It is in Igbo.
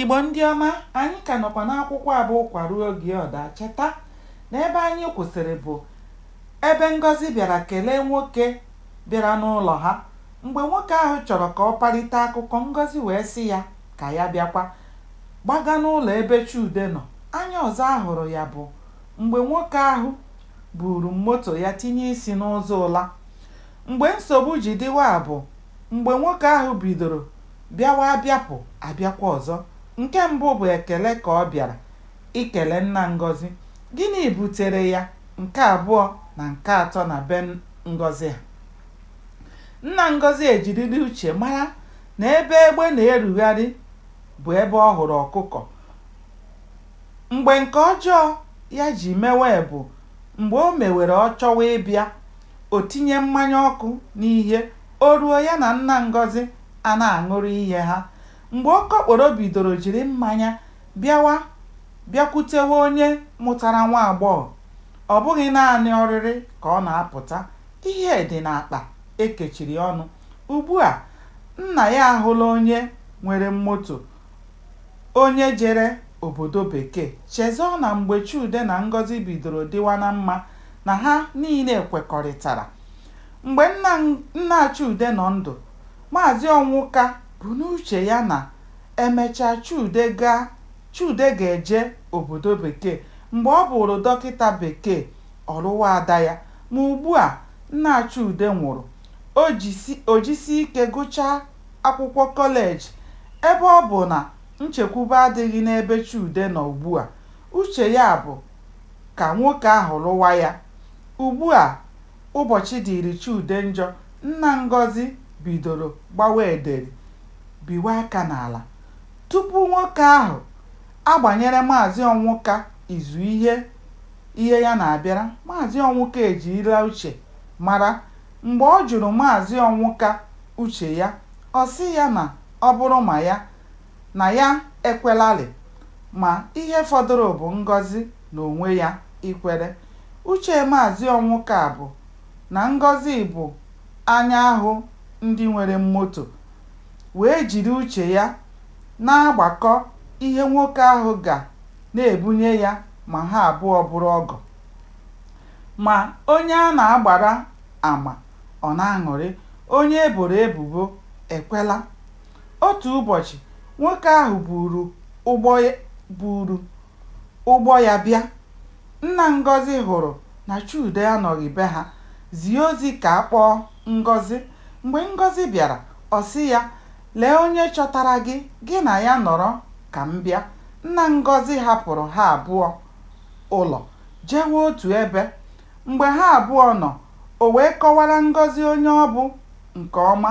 Igbo ndị ọma, anyị ka nọkwa n'akwụkwọ a bụ Ụkwa Ruo Oge Ọ Daa. Cheta na ebe anyị kwụsịrị bụ ebe Ngọzi bịara kelee nwoke bịara n'ụlọ ha. Mgbe nwoke ahụ chọrọ ka ọ parite akụkọ, Ngọzi wee sị ya ka ya bịakwa gbaga n'ụlọ ebe Chude nọ. Anya ọzọ a hụrụ ya bụ mgbe nwoke ahụ buuru moto ya tinye isi n'ụzọ ụla. Mgbe nsogbu ji dịwa bụ mgbe nwoke ahụ bidoro bịawa abịapụ abịakwa ọzọ. Nke mbụ bụ ekele ka ọ bịara ikele nna Ngọzi. Gịnị butere ya nke abụọ na nke atọ na be Ngọzi ha? Nna Ngọzi ejirila uche mara na ebe egbe na-erugharị bụ ebe ọ hụrụ ọkụkọ. Mgbe nke ọjọọ ya ji mewe bụ mgbe o mewere ọ chọwa ịbịa o tinye mmanya ọkụ n'ihe, o ruo, ya na nna Ngọzi ana-aṅụrụ ihe ha. Mgbe okokporo bidoro jiri mmanya bịawa bịakwutewe onye mụtara nwa agbọghọ, ọ bụghị naanị oriri ka ọ na-apụta, ihe dị n'akpa e kechiri ọnụ. Ugbu a, nna ya ahụla onye nwere moto, onye jere obodo bekee, chezọọ na mgbe Chude na Ngọzi bidoro dịwa na mma, na ha niile kwekọrịtara. Mgbe nna Chude nọ ndụ, Maazị Ọnwụka bu n'uche ya na e mechaa Chude ga-eje obodo Bekee. Mgbe ọ bụụrụ dọkịta Bekee, ọ lụwa ada ya. Ma ugbu a nna Chude nwụrụ, o jisie ike gụchaa akwụkwọ kọleji. Ebe ọ bụ na nchekwube adịghị n'ebe Chude nọ ugbu a, uche ya bụ ka nwoke ahụ lụwa ya. Ugbu a ụbọchị dịịrị Chude njọ, nna Ngọzi bidoro gbawa ederi, biwe aka n'ala. Tupu nwoke ahụ agbanyere Maazị Ọnwụka izu ihe ihe ya na-abịara, Maazị Ọnwụka ejirila uche mara. Mgbe ọ jụrụ Maazị Ọnwụka uche ya, ọ sị ya na ọ bụrụ ma ya, na ya ekwelarị ma ihe fọdụrụ bụ Ngọzi n'onwe ya ikwere. Uche Maazị Ọnwụka bụ na Ngọzi bụ anya ahụ ndị nwere moto wee jiri uche ya na-agbakọ ihe nwoke ahụ ga na-ebunye ya ma ha abụọ bụrụ ọgọ. Ma onye a na-agbara ama, ọ na-aṅụrị, onye e boro ebubo ekwela? Otu ụbọchị, nwoke ahụ buuru ụgbọ ya bịa. Nna Ngọzi hụrụ na Chude anọghị be ha, zie ozi ka a kpọọ Ngọzi. Mgbe Ngọzi bịara, ọ sị ya, Lee onye chọtara gị, gị na ya nọrọ ka m bịa. Nna Ngọzi hapụrụ ha abụọ ụlọ jewe otu ebe. Mgbe ha abụọ nọ, o wee kọwara Ngọzi onye ọ bụ nke ọma.